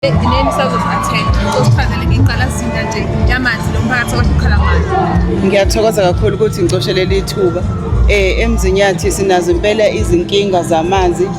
Yini sazozathenda sosiphazele ngeqalasinda nje yamanzi lo mphakathi wahlukhala ngayo. Ngiyathokoza kakhulu ukuthi ngicoshe leli thuba. Eh emzinyathi sinazo impela izinkinga zamanzi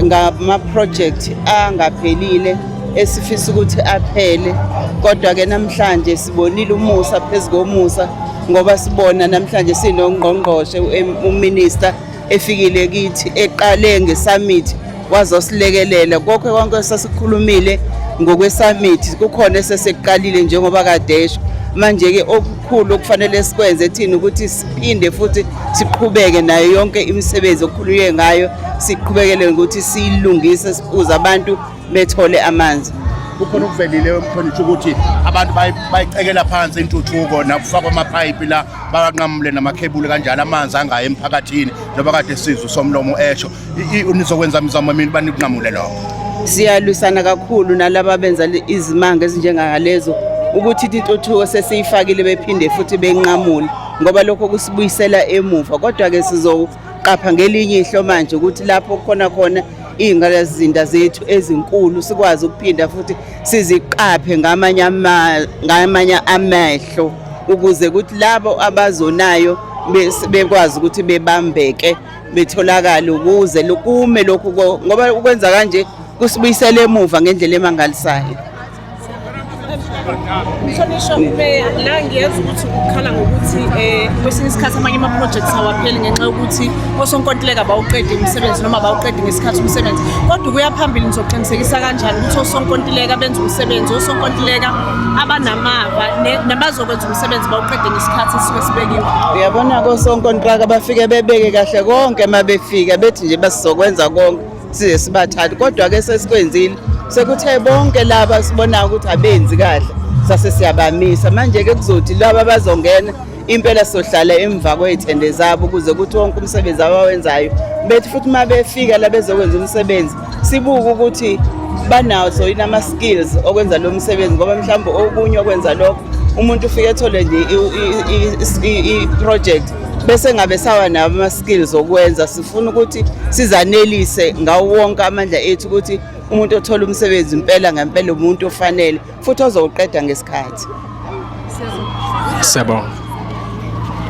ngama project angaphelile esifisa ukuthi aphele kodwa ke namhlanje sibonile umusa phezu komusa ngoba sibona namhlanje sinongqongqoshe uminister efikile kithi eqale ngesummit wazosilekelela konke konke sasikhulumile ngokwesummit kukhona esesekuqalile njengoba kadesho manje-ke okukhulu okufanele sikwenze thina ukuthi siphinde futhi siqhubeke nayo yonke imisebenzi okukhulunywe ngayo siqhubekele ngokuthi siyilungise sibuze abantu bethole amanzi kukhona okuvelile umhlonitshi ukuthi abantu bayicekela phansi intuthuko nakufakwa amapayipi la bakanqamule namakhebuli kanjalo amanzi angayi emphakathini njengoba kade sizwe somlomo esho nizokwenza mizamo mina banikunqamule lokho siyalwisana kakhulu nalaba benza izimanga ezinjengalezo ukuthi intuthuko sesiyifakile bephinde futhi benqamule ngoba lokho kusibuyisela emuva kodwa-ke sizo qapha ngelinye ihlo manje ukuthi lapho kukhona khona iy'ngalazinda zethu ezinkulu sikwazi ukuphinda futhi siziqaphe ngamanye amehlo ukuze ukuthi labo abazonayo bekwazi ukuthi bebambeke betholakale ukuze lukume lokhu ngoba ukwenza kanje kusibuyisela emuva ngendlela emangalisayo Mhlonishwa umeya la ngiyazi ukuthi ukukhala ngokuthi um kwesinye isikhathi amanye ama-projects awapheli ngenxa yokuthi osonkontileka bawuqede umsebenzi noma bawuqede ngesikhathi umsebenzi kodwa ukuya phambili nizoqinisekisa kanjani ukuthi osonkontileka benza umsebenzi osonkontileka abanamava nabazokwenza umsebenzi bawuqede ngesikhathi esisuke sibekiwe uyabona kosonkontileka bafike bebeke kahle konke uma befika bethi nje basizokwenza konke size sibathathe kodwa ke sesikwenzile sekuthe bonke laba sibonayo ukuthi abenzi kahle sase siyabamisa manje ke kuzothi laba bazongena impela sohlala emva kwey'thende zabo ukuze kuthi wonke umsebenzi abawenzayo bethi futhi uma befika la bezokwenza umsebenzi sibuke ukuthi banazo yini ama-skills okwenza lo msebenzi ngoba mhlawumbe okunye okwenza lokho umuntu ufike ethole nje i-project bese ngabe sawa nabo skill zokwenza sifuna ukuthi sizanelise ngawo wonke amandla ethu ukuthi umuntu othola umsebenzi impela ngempela umuntu ofanele futhi ozowuqeda ngesikhathi siyabonga